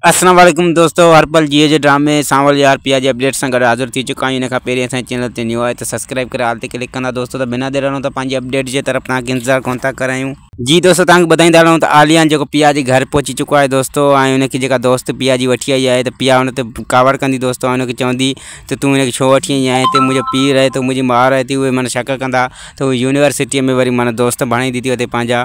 اسلام عليڪم دوستو هر پل جيئي جي ڊرامي سانول يار پيا جي اپڊيٽ سان گڏ حاضر ٿي چڪا آهيون ان کان پهرين اسان جي چينل تي نيو آهي ته سبسڪرائب ڪري آل تي ڪلڪ ڪندا دوستو ته بنا دير هلون ته پنهنجي اپڊيٽ جي طرف توهان کي انتظار ڪون ٿا ڪرايون جي دوستو توهان کي ٻڌائيندا هلون ته عاليان جيڪو پيا جي گهر پهچي چڪو آهي دوستو ۽ ان کي جيڪا دوست پيا جي وٺي آئي آهي ته پيا ان تي ڪاوڙ ڪندي دوستو ۽ ان کي چوندي ته تون ان کي ڇو وٺي آئي آهي هتي منهنجو پيء رهي ٿو منهنجي ماء رهي ٿي اهي مانا شڪ ڪندا ته هو يونيورسٽيء ۾ وري مانا دوست بڻائيندي ٿي اتي پنهنجا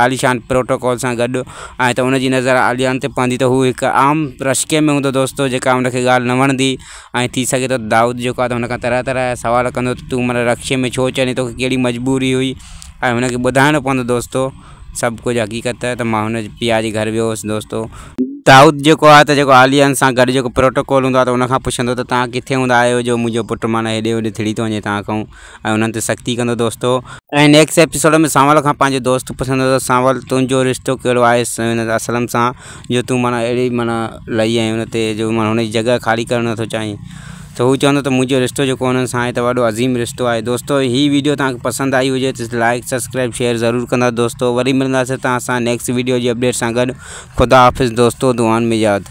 عاليشان پروٽوڪول سان گڏ آهي ته ان جي نظر عاليان تي پوندي ته هو هڪ عام رشڪي ۾ هوندو دوستو جيڪا ان کي ڳالهه نه وڻندي ۽ ٿي سگهي ٿو دائود جيڪو آهي ته هن کان طرح طرح جا سوال ڪندو ته تون منا رڪشي ۾ ڇو چڙهين توکي ڪهڙي مجبوري هئي ۽ هن کي ٻڌائڻو پوندو دوستو سڀ ڪجهه حقيقت ته مان هن جي پيء جي گهر ويو هوس دوستو دائود جيڪو آهي ته جيڪو عاليان سان گڏ جيڪو پروٽوڪول هوندو آهي ته ان کان پڇندو ته توهان ڪٿي هوندا آهيو جو منهنجو پٽ معنيٰ هيڏي هوڏي ٿڙي ٿو وڃي توهان کان ۽ انهن تي سختي ڪندو دوستو. ۽ نيڪسٽ ايپيسوڊ ۾ سانول کان پنهنجو دوست پڇندو ته سانول تنهنجو رشتو ڪهڙو آهي هن اسلم سان جو تون معنيٰ اهڙي معنيٰ لئي ۽ ان تي جو معنيٰ هن جي جڳهه خالي ڪرڻ نٿو چاهين ته هو چوندو ته منهنجو رشتو جيڪو انهن سان آهي ته وڏو عظيم رشتو آهي دوستو هي ويڊيو توهان کي پسند آئي هجي ته لائيڪ سبسڪرائيب شيئر ضرور ڪندا دوستو وري ملنداسين توهان سان نيڪسٽ ويڊيو جي اپڊيٽ سان گڏ خدا حافظ دوستو دعائن ۾ ياد